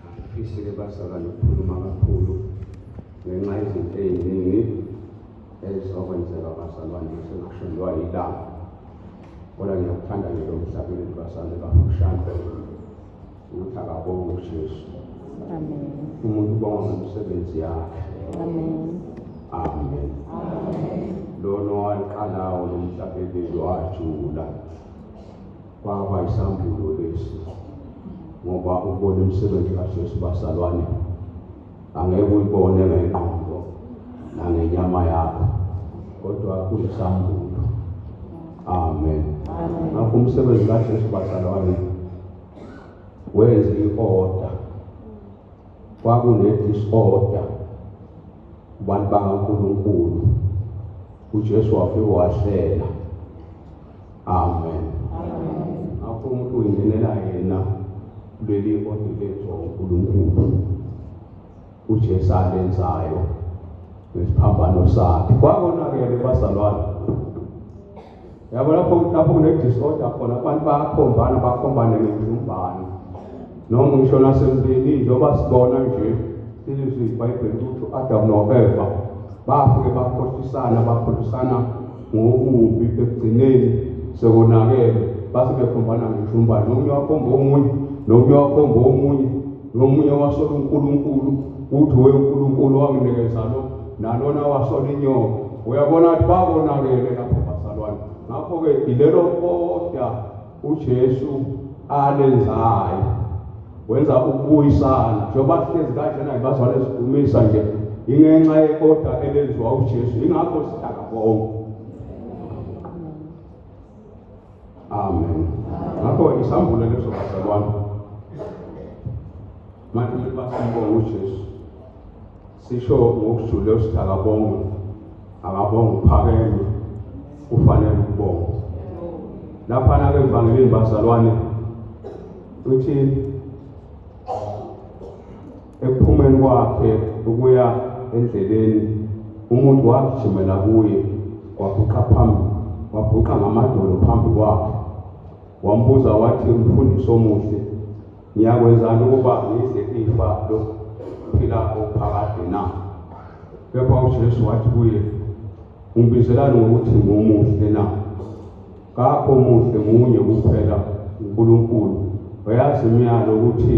Angifisile bazalwa nokukhuluma kakhulu ngenxa izinto ey'ningi ezizokwenzeka bazalwane sekushondwa yilanga kodwa ngiyakuthanda nje lo mhlabeni bazalwane bafushane ukuthi akabonge uJesu amen umuntu ubonga ngomsebenzi yakhe amen amen lona owaqalawo lomhlabeleli wajula kwaba isambulo lesi ngoba ubona umsebenzi kaJesu basalwane angeke uyibone ngengqondo nangenyama yakho kodwa kuyisambulo amen ngakho umsebenzi kaJesu basalwane wenze i-order kwakune-disorder kubantu bakankulunkulu ujesu wafike wahlela amen ngakho umuntu uyingenela yena leli order lenzwa unkulunkulu ujesu alenzayo nesiphambano sakhe kwakonakele bazalwane yabo lapho lapho kune-disorder khona abantu bayakhombana bakhombane ngenjumbane noma ngisho nasemzini njengoba sibona nje ilizwi ibhayibheli ukuthi u-adam no-eva bafike bakhohlisana bakhohlisana ngokubi ekugcineni sekonakele base bekhombana ngenjumbane nomunye wakhomba omunye nomunye wakhomba omunye Nomunye wasola uNkulunkulu, uthi we uNkulunkulu wanginikeza lo, nalona wasola inyoka. Uyabona ukuthi babonakele lapho bazalwane. Ngakho-ke ilelo koda uJesu alenzayo wenza ukubuyisana njengoba sihlezi kanjena ngibazalwane sidumisa nje ingenxa yekoda elenziwa uJesu ingakho sidaka bonke amen ngakho isambule leso bazalwane manje ukuba sibonge ujesu sisho ngokujule usithi akabonge akabonge uphakeme ufanele ukubonga laphana ke evangelini bazalwane uthi Ekuphumeni kwakhe ukuya endleleni, umuntu wagijimela kuye, wabhuqa phambi, wabhuqa ngamadolo phambi kwakhe. Wambuza wathi, Mfundisi omuhle, ngiyakwenzani ukuba ngidle ifa lokuphila okuphakade na? Kepha uJesu wathi kuye, Ungibizelani ngokuthi ngomuhle na? Kakho muhle munye kuphela uNkulunkulu. Wayazi imiyalo ukuthi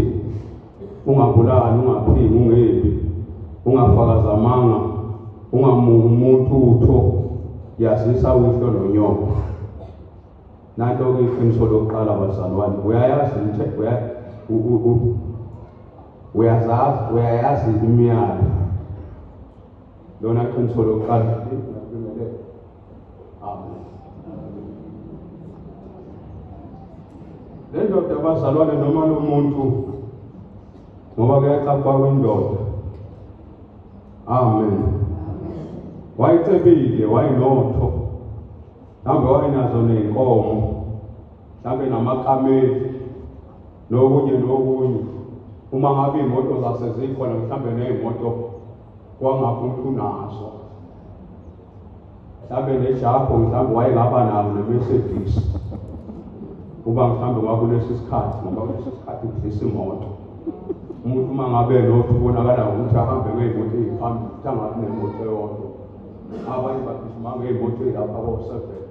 ungabulali ungaphingi ungebi ungafakaza amanga ungamuki umuntu utho yazisa uyihlo nonyoko nanto-ke iqiniso lokuqala bazalwane uyayazi uyazazi uyayazi imiyalo lona qiniso lokuqala le ndoda bazalwane noma lo muntu ngoba kuyaxakwa kwindoda amen wayecebile wayinotho mhlawumbe wayenazo ney'nkomo mhlawumbe namakameli nokunye nokunye uma ngabe iy'moto zasezikhona mhlawumbe ney'moto kwangapha umuntu unazo mhlawumbe nejabho mhlawumbe wayengaba nawo ne-mercedes uba mhlawumbe kwakulesi sikhathi ngoba kulesi sikhathi udlisa imoto umuntu uma ngabe nothi ubonakala ngokuthi ahambe ngey'moto ey'phambili ukuthi angabi nemoto eyodwa abanye bagijima ngey'moto ey'lapha bo-seven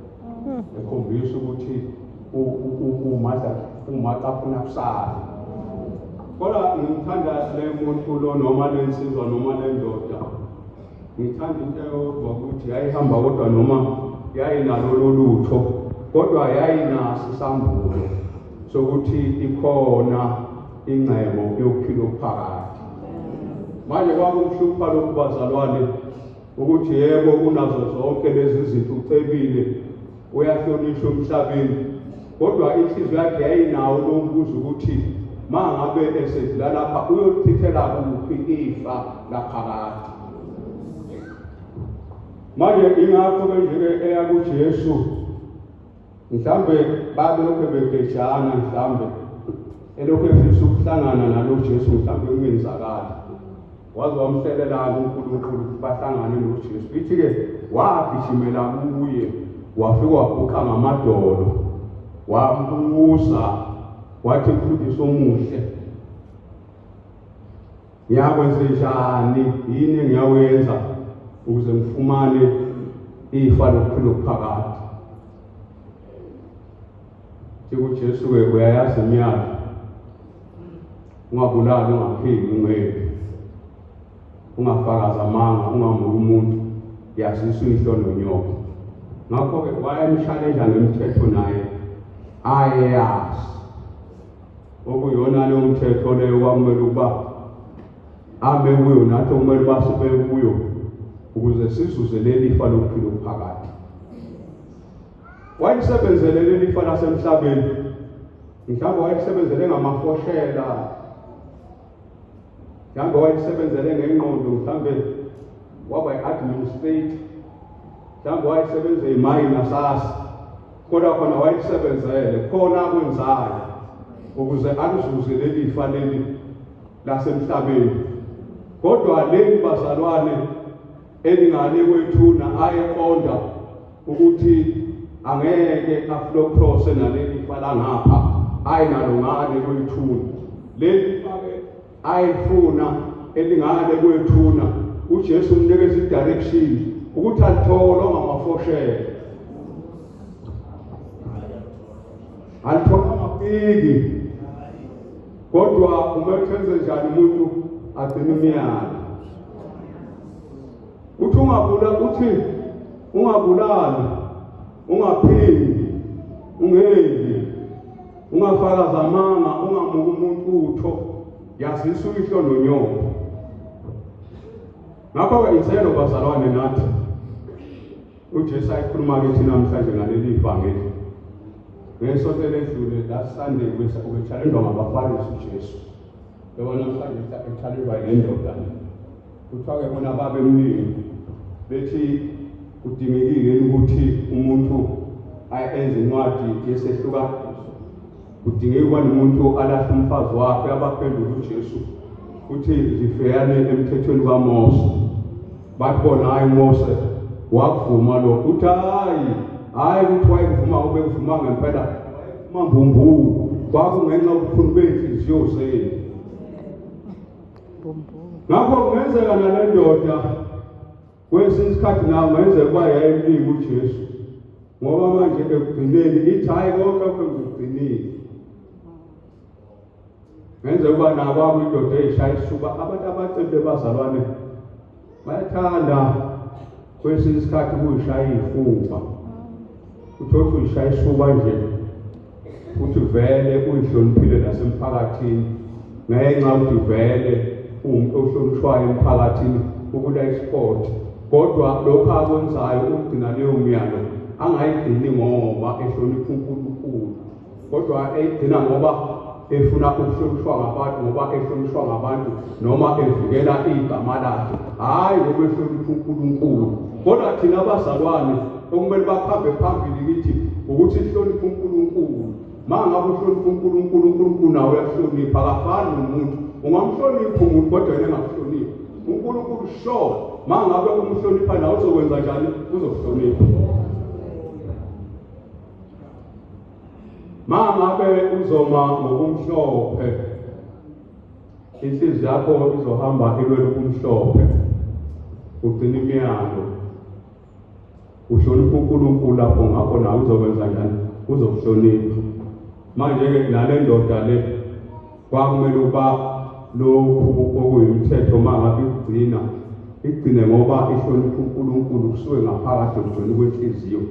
hmm. ekhombisa ukuthi umata afuna kusala kodwa ngimthanda le muntu lo noma le nsizwa noma le ndoda Ngithanda into eyodwa ukuthi yayihamba kodwa noma yayinalolo lutho kodwa yayinaso isambulo sokuthi ikhona ingcebo yokuphila okuphakathi. Manje kwakumhlupha lokhu bazalwane ukuthi yebo unazo zonke lezi zinto ucebile uyahlonishwa emhlabeni kodwa inhliziyo yakhe yayinawo lokubuza ukuthi ma ngabe esedlula lapha uyolichithela kuphi ifa laphakade manje ingakho-ke nje-ke eya kujesu mhlawumbe babelokhu begejana mhlawumbe elokhu efisa ukuhlangana nalo jesu mhlawumbe kungenzakali waze wamselelana uNkulunkulu bahlangane noJesu ithi-ke wagijimela kuye wafike wabhuqa ngamadolo wambuza wathi mfundisi omuhle ngiyakwenze njani yini engiyawenza ukuze ngifumane ifa lokuphila okuphakade Ke uJesu ke uyayazi imiyalo. Ungabulali ungaphili ungebi. Ungafakaza amanga ungamuka umuntu yazisa uyihlo nonyoko. Ngakho ke wayemshaleja ngemithetho naye ayeyazi. Okuyona leyo mthetho leyo kwamele ukuba ame kuyo nathi okumele uba sibe kuyo ukuze sizuze leli fa lokuphila okuphakathi Wayesebenzele leli fa lasemhlabeni. Mhlawumbe wayesebenzele ngamafoshela. Mhlawumbe wayesebenzele ngengqondo mhlawumbe waba i-administrator. Mhlawumbe wayesebenza imayini nasasa. Kodwa khona wayesebenzele khona akwenzayo ukuze alizuze leli fa leli lasemhlabeni. Kodwa leli bazalwane Elingane kwethuna ayeqonda ukuthi angeke aflocrose naleli fa langapha ayinalungane kwethuna leli fake ayifuna elingane kwethuna uJesu umnikeza idirection ukuthi alithole ongamafoshele alithole amapiki Kodwa kumele uthenze njani umuntu agcine umyalo. Uthi ungabula uthi ungabulali, ungaphindi, ungendi, ungafakaza amanga, ungamuki umuntu utho, yazisa uyihlo nonyoko. Ngakho-ke izelo bazalwane nathi UJesu ayikhuluma kithi namhlanje ngaleli ivangeli. Ngesonto eledlule la Sunday bese ubethalendwa ngabaFarisi uJesu. Yabona mhlawumbe ethalendwa ngendoda. Kuthiwa ke bona babemningi bethi kudingekile ukuthi umuntu ayenze incwadi yesehluka Kudingeka ubani umuntu alahle umfazi wakhe abaphenduka uJesu uthi ngiveyane emthethweni kaMose bathi bona hayi Mose wakuvuma lokho uthi hayi hayi ukuthi wayekuvuma ubekuvuma ngempela mambumbulu kwakungenxa ubukhulu bey'nhliziyo zenu ngakho kungenzeka nale ndoda Kwesinye isikhathi nayo mayenzeka ukuba yayimlika uJesu ngoba manje ekugcineni ithi hhayi konke lokho ngikugcinile ngenze ukuba nabo abuyindoda eyishaya isuba abantu abacebe bazalwane bayathanda kwesinye isikhathi kuyishaya iy'fuba uthothi uyishaya isuba nje Uthi vele uyihloniphile nasemphakathini ngenxa uthi vele uwumuntu ohlonishwayo emphakathini ukula isport kodwa lokho akwenzayo ukugcina leyo myalo angayigcini ngoba ehlonipha uNkulunkulu kodwa eyigcina ngoba efuna ukuhlonishwa ngabantu ngoba ehlonishwa ngabantu noma evikela igama lakhe hhayi ngoba ehlonipha unkulunkulu kodwa thina abazalwane okumele bakhambe phambili kithi ukuthi sihloniphe unkulunkulu ma ngabe uhlonipha unkulunkulu unkulunkulu nawe uyahlonipha akafani nomuntu ungamhloniphi umuntu kodwa yena engakuhloniphi unkulunkulu sure ma ngabe umhlonipha nawe uzokwenza njani uzokuhlonipha mangabe uzoma ngokumhlophe inhliziyo yakho izohamba ilwela ubumhlophe ugcina imiyalo uhlonipha unkulunkulu lapho ngakho nawe uzokwenza njani uzokuhlonipha manje-ke nale ndoda le Kwakumele ukuba lokhu okuyimthetho uma ngabe ikugcina igcine ngoba ihlonipha uNkulunkulu kusuke ngaphakathi ekugcina kwenhliziyo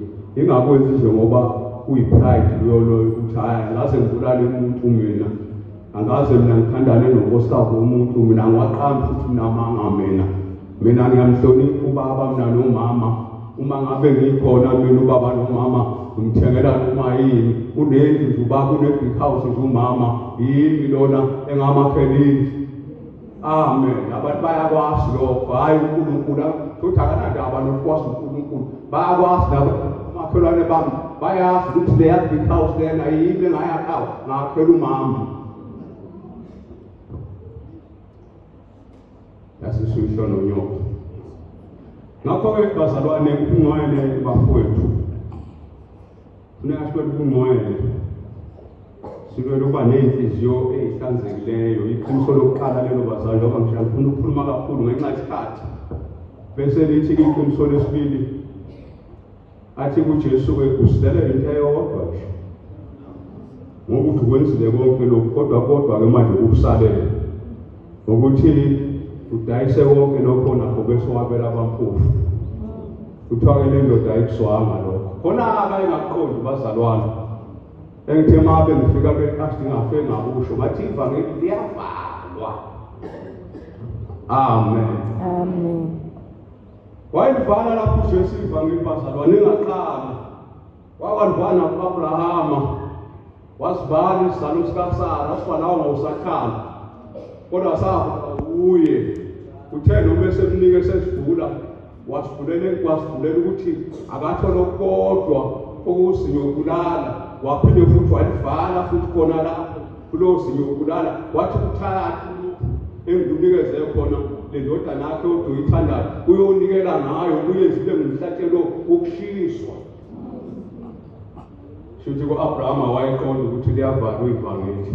ingakwenzi nje ngoba kuyi-pride luyoloyo ukuthi hhayi angaze ngibulale umuntu mina angaze mina ngithandane nonkosikazi womuntu mina ngiwaqambi futhi mina amanga mina Mina ngiyamhlonipha ubaba mina nomama uma ngabe ngikhona mina ubaba nomama ngimthengela noma yini unendlu nje ubaba une-big house nje umama yimi lona engamakhela indlu amen abantu bayakwazi lokho hhayi unkulunkulu futhi akanandaba nokukwazi unkulunkulu bayakwazi laba omakhelwane bami bayazi ukuthi leya big house lena yimi engayakhawo ngakhela umama yasishusho nonyoka. Ngakho-ke bazalwane, ubungcwele bafowethu funeka sibe ubungcwele silwele ukuba ney'nhliziyo ey'hlanzekileyo iqiniso lokuqala lelo bazali ngoba ngisho ngifuna ukukhuluma kakhulu ngenxa yesikhathi bese lithi-ke iqiniso lesibili Athi kuJesu-ke usilelela into eyodwa nje ngokuthi wenzile konke lokhu kodwa kodwa-ke manje kukusalele ukuthi udayise konke lokho nakho bese wabela abampofu kuthiwa-ke le ndoda ayikuzwanga lokho khona-ke ayingakuqondi bazalwane engithe uma bengifika be-athi ngafe ngakusho ngathi ivangeli liyavalwa amen amen Wayelivala lapho uJesu ivangeli bazalwane engaqala. Wakwalivala kuAbrahama. Wasivala isizalo sikaSara, wasibalawa ngawusakhala. Kodwa safa kuye. Uthe noma esemnike sesivula wasivulela wasivulela ukuthi akathole okukodwa okuzinyokulala waphinde futhi walivala futhi khona lapho Kulowo simi wokubulala wathi kuthatha uluphu engikunikeze khona le ndodana yakhe odwa uyithandayo uyonikela ngayo uyenzile ngumhlatshelo wokushiswa shuthi ku-abrahama wayeqonda ukuthi liyavalwa ivangeli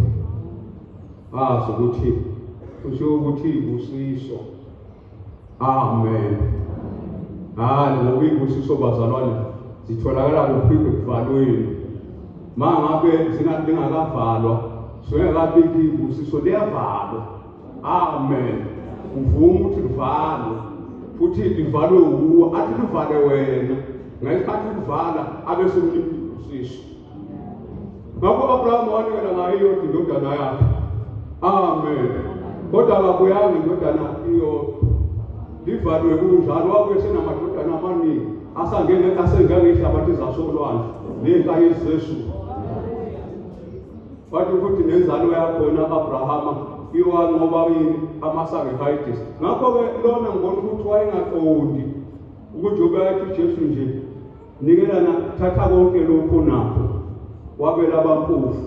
ngazi ukuthi kusho ukuthi ibusiso Amen. Hayi ngoba ibusiso bazalwane zitholakala kuphi ekuvalweni. Ma ngabe singathi lingakavalwa, singakabiki ibusiso liyavalwa. Amen. Uvuma ukuthi livalwe futhi livalwe wuwo athi livale wena ngesikhathi uvala abe semliphi usiso ngakho u-abrahama wanikela ngayo iyodwa indodana yakhe amen kodwa akabuyanga indodana iyodwa livalwe kunjalo wabuye senamadodana amaningi asangene asengangehlabathi zasolwandle ney'nkayi zezulu wathi ukuthi nenzalo yakhona abrahama iwanqoba yini amasacrifices ngakho-ke lona ngibona ukuthi wayengaqondi ukuthi ubeyathi ujesu nje nikelana thatha konke lokhu nakho wabela abampofu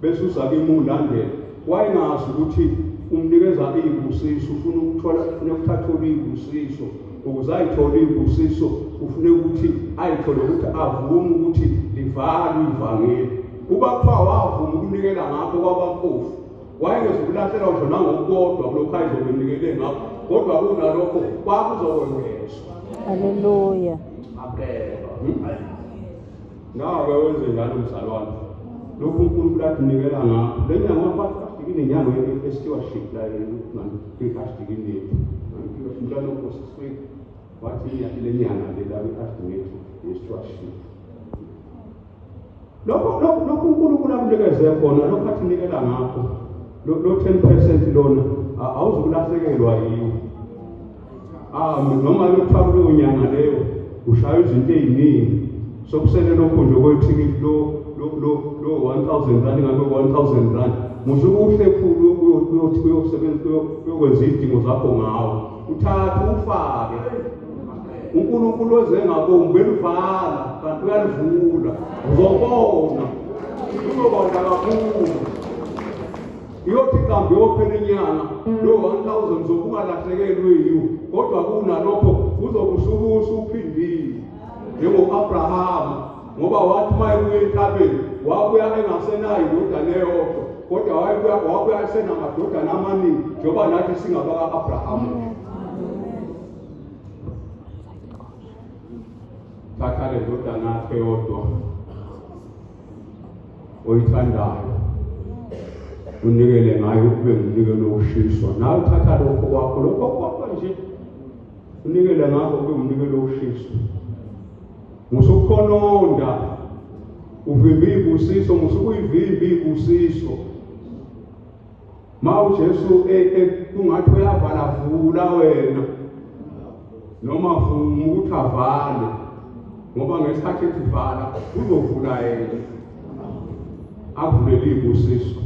bese uza kimi ulandela wayengazi ukuthi umnikeza iy'busiso ufuna ukuthola ufuna ukuthatha oluy'busiso ukuze ayithole iy'busiso ufune ukuthi ayithole ukuthi avume ukuthi livalwe ivangeli kuba kuthiwa wavuma ukunikela ngakho kwabampofu wayezokulahlelwa ngisho nangokukodwa kulokhu ayezokunikele ngakho kodwa kunalokho kwakuzokwengezwa haleluya abheka ngabe hmm? wenze njalo mzalwane lokhu unkulunkulu atunikela ngakho le nyanga wabafikile nenyanga yestewardship la kwi-ashtikini yethu njalo kosiswei wathi le nyanga le la kwi-ashtikini yethu yestewardship lokho lokho lokho uNkulunkulu akunikeze khona lokho athi nikela ngakho lo 10% lona awuzukulahlekelwa yiwo ah noma kuthiwa kuleyo nyanga leyo ushaya izinto eziningi sokusele lokho nje kwethikithi lo lo lo lo 1000 rand ngabe 1000 rand musukuhle khulu uyothi uyosebenza uyokwenza izidingo zakho ngawo uthatha ufake uNkulunkulu ozengabombi elivala kanti uyalivula uzobona uzobona kakhulu iyothi kambe yophela inyanga lo 1000 zokungalahlekelwe yiwo kodwa kunalokho uzokusukusa uphindile njengo-abrahama ngoba wathi uma ebuya entabeni wabuya engasenayo indodana eyodwa kodwa wayebuya wabuya esenamadodana amaningi njengoba nathi singabaka-abrahamu thatha le ndodana yakhe yodwa oyithandayo unikele ngayo ukube ngumnikelo wokushiswa nawe uthatha lokho kwakho lokho kwakho nje unikele ngakho kube umnikelo wokushiswa Musukhononda uvimba iy'busiso, musukuyivimba iy'busiso. Ma uJesu e, e, kungathi uyavala vula wena noma vuma ukuthi avale ngoba ngesikhathi ethi vala uzovula yena avulele iy'busiso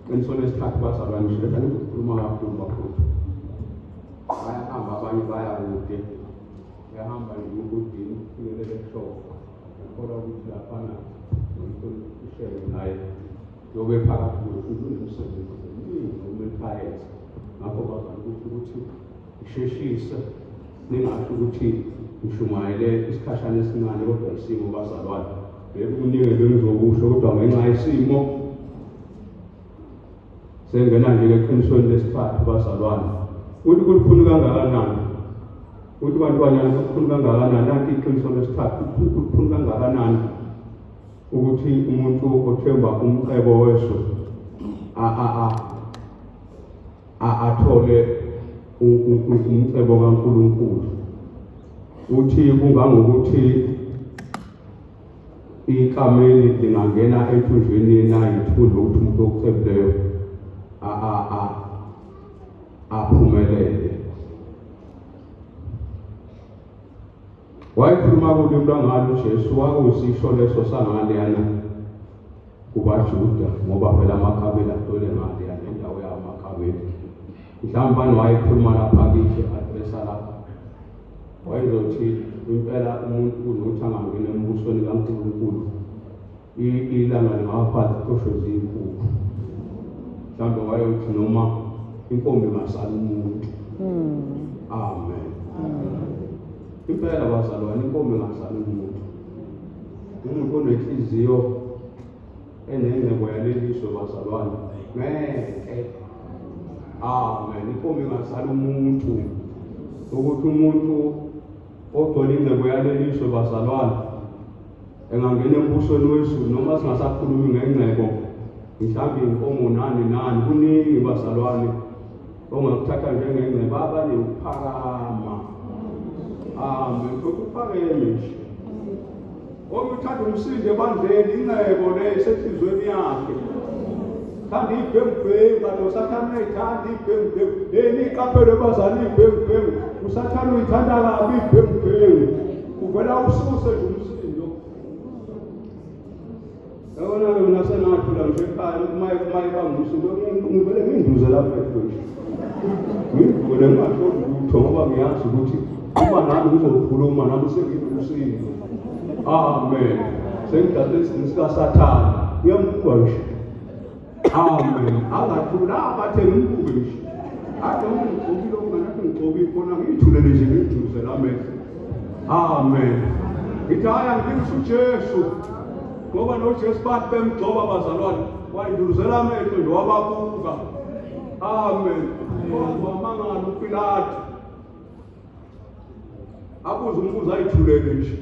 qinisweni esikhathi bazalwane shebetha nikukhuluma kakhulu bakhulu bayahamba abanye baya kude Uyahamba nje ubudini ukufinyelela ehloko. Ngikholwa ukuthi laphana nomkhulu uhlelo naye yobe phakathi nokhulu umsebenzi omningi okumele bayenze. Ngakho bazama ukuthi ukuthi isheshise ningasho ukuthi ngishumayele isikhashana esincane kodwa isimo bazalwane. Yebo kuningi bengizokusho kodwa ngenxa yesimo Sengena nje eqinisweni lesithathu bazalwane. Uthi kulikhulu kangakanani? Uthi bantwanyana kulikhulu kangakanani? Nanti iqiniso lesithathu kulikhulu kangakanani ukuthi umuntu othemba umcebo weso a a a a athole umcebo kaNkulunkulu. Uthi kungangokuthi ikameli lingangena ethunjweni na yithunzi lokuthi umuntu okucebileyo aphumelele wayekhuluma kulimi lwangalo ujesu wakusisho leso sangaleyana kubajuda ngoba phela amakabela atole ngaleyana indawo yawo amakabela mhlawumbe bani wayekhuluma lapha kithi adresa lapha wayezothi impela umuntu kunokuthi angangeni embusweni kankulunkulu ilanga lingawafazi qosho ziyinkukhu mhlawumbe wayeyothi noma inkombi masala umuntu hmm. amen impela bazalwane inkombi masala umuntu umuntu onenhliziyo Enengcebo yalelizwe bazalwane. Ngeke. Amen. Inkomo ingazala umuntu. Ukuthi umuntu ogcwele ingcebo yalelizwe bazalwane engangena embusweni wezulu noma singasakhulumi ngengcebo mhlawumbe inkomo nani nani kuningi bazalwane ongakuthatha njengengcebaba newuphakama hambe ukuphakeme nje okuthanda umsindo ebandleni incebo le isenhlizweni yakhe thanda iy'bhengubhengu kanti usathane uyayithanda iy'bhengubhengu leni iqaphelo ebazali iy'bhengubhengu usathane uyithanda kabi iy'bhengubhengu uvela ususe nje umsindo Yabona-ke mina sengathula nje ekhaya uma uma ibangusuku ngivele nginduze lapha ekhona ngivule ngasho lutho ngoba ngiyazi ukuthi uma nami ngizokhuluma nami sengiwusizo amen sengidlale isimo sikasathane uyambuka nje Amen. Angathula abathe ngimbuke nje. Ade ungigqokile okunganakho ngigqoke ikhona ngiyithulele nje ngiyiduse la mehlo. Amen. Ngithi hhayi angilise uJesu ngoba noJesu bathi bemgcoba bazalwane wayinduluzela amehlo nje wababuka. Amen. Kodwa amangala uPilate abuze umbuzo ayithulele nje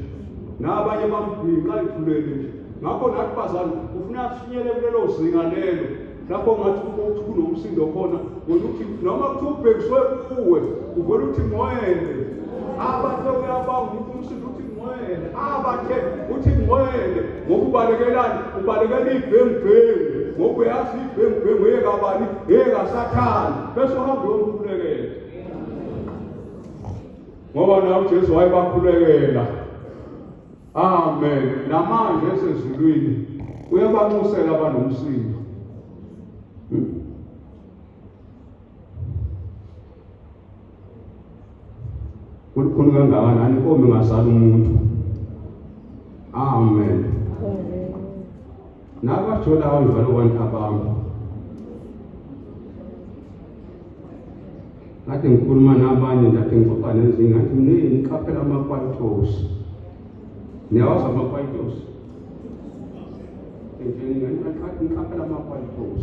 nabanye bambhinqa ayithulele nje ngakho nathi bazali ufuna sinyele kulelo zinga lelo lapho ngathi ukuthi kunomsindo khona ngoba uthi noma kuthiwa ubhekiswe kuwe uvele uthi ngwele abathe uyabanga ukuthi umsindo uthi ngwele abathe uthi ngwele ngoba ubalekelani ubalekela ibhengibhengu ngoba uyazi ibhengibhengu eyekabani eyesathane bese uhamba uyomkhulekela ngoba nawo uJesu wayebakhulekela amen namanje esezulwini uyabanxusela abanomsindo kulukhulu kangakanani inkomo ingazali umuntu amen Nabajola abantu abantu abantu. Ngathi ngikhuluma nabanye ngathi ngixoxa nezinye ngathi mningi niqaphela ama-qualtos. Niyawazi ama-qualtos? Ngitshela ngathi niqaphela ama-qualtos.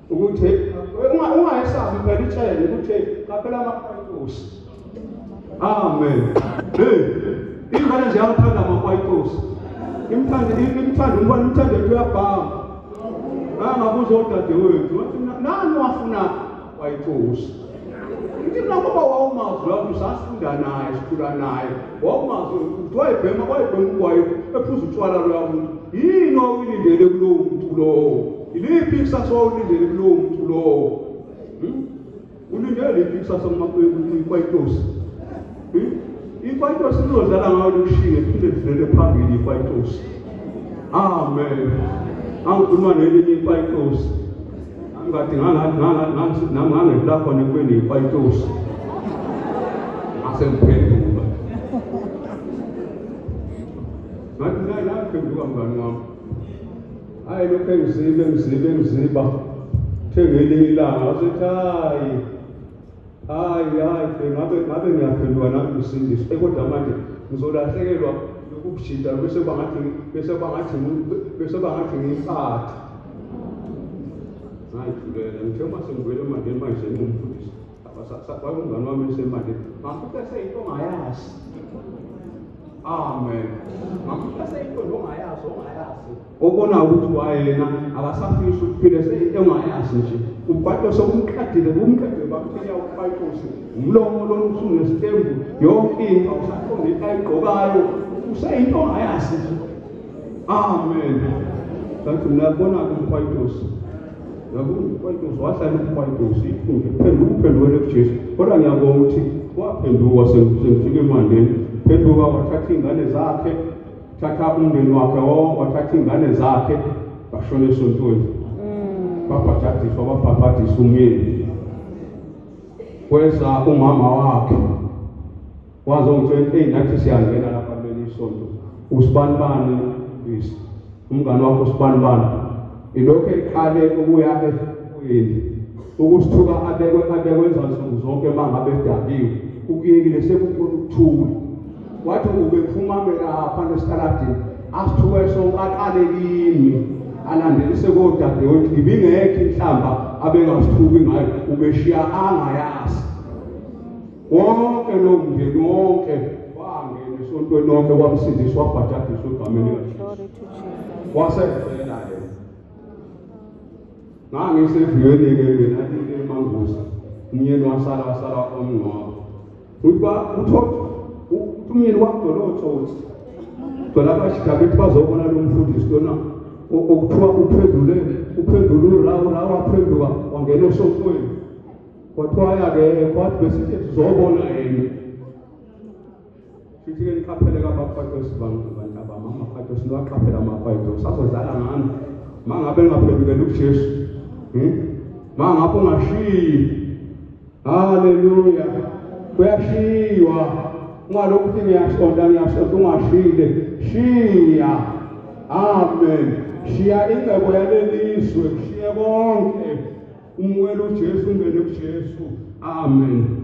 ukuthi ungayesabi phela itshele ukuthi qaphela amakwayitosi amen hey ingane nje yathanda amakwayitosi imthanda imthanda umfana imthanda into yabhama angabuza odadewethu wathi nani wafuna kwayitosi ngithi nakuba wawumazi lapho sasifunda naye sikhula naye wawumazi ukuthi wayebhema wayebhema ugwayi ephuza utshwala loya muntu yini wawuyilindele kulowo muntu lowo iliphi ikusasa wawulindele kulowo muntu lowo hmm? ulindele liphi ikusasa kumakwayitosi hmm? ikwayitosi lizodlala ngayo likushinge phinde livele phambili ikwayitosi amen angikhuluma nelinye ikwayitosi Ngathi ngangangibla khona ekweni ikwayitosi. Ngase ngiphenduka. Ngathi nayi laphenduka mngani wami. Hayi lokhu engizibe ngizibe ngiziba. Thenge elinye ilanga wasethi hayi Hayi hayi bengabe ngabe ngiyaphendula nami kusindiswa eh, kodwa manje ngizolahlekelwa ukujida bese bangathi bese bangathi bese bangathi ngiyiphathe ngayidlulela ngithe uma sengibuyela emandeni manje ngimfundisa wayengumngane wami esemandeni ngamfuta seyinto ongayazi amen ngamfuta seyinto ongayazi ongayazi obona ukuthi kwayena akasafisi ukuphila seyinto engayazi nje ubhado sokumqadile kumqedile bakuthenya ubhayitose umlomo lona usunesitembu yonke into awusaqondi into ayigqokayo useyinto ongayazi nje amen kanti niyabona-ke umkhwayitosi nakumkhwayitosi wahlala umkhwayitosi iphunge phenduka uphendukele kujesu kodwa ngiyabonga ukuthi waphenduka sengifike emandeni phenduka wathatha iy'ngane zakhe thatha umndeni wakhe wonke wathatha iy'ngane zakhe bashona esontweni mm. babhajadiswa babhabhadisa umyeni kweza umama wakhe waze ungitshela eyi nathi siyangena lapha kuleli isonto usibanibani ngisi umngane wakho usibanibani ilokhu eqale ukuya efukwini ukusithuka abekwe abekwenza nsuku zonke uma ngabe edakiwe ukuyekile sekukhona ukuthula wathi ubephuma belapha nesitaladini asithuke sonke aqale kimi alandelise kodadewethu ibingekho inhlamba abengasithuki ngayo ubeshiya angayazi wonke lo mndeni wonke wangena esontweni lonke wamsindiswa wabhajadiswa egameni wasevela yena ngangiseviyweni-ke mina imangusa umyeni wasala wasala omngcwabo Utwa uthotha umyeni wakudona otsotsi dona abashikabe ukuthi bazobona lo mfundisi lona okuthiwa uphendule uphendule urawu rawu waphenduka wangena esofweni kwathiwa yake kwathi besithi sizobona yena sithi ke niqaphele kabafatosi bantabama amafatosi niwaqaphele amafatosi azodlala ngami ma ngabe ngaphendukela ujesu hmm? ma ngabe ungashiyi Haleluya. Kuyashiywa. Ungalokhu uthi ngiyashonda ngiyashonda ungashile. Shiya. Amen. Shiya ingcebo yalelizwe, kushiye konke. Umukela uJesu ungene kuJesu. Amen.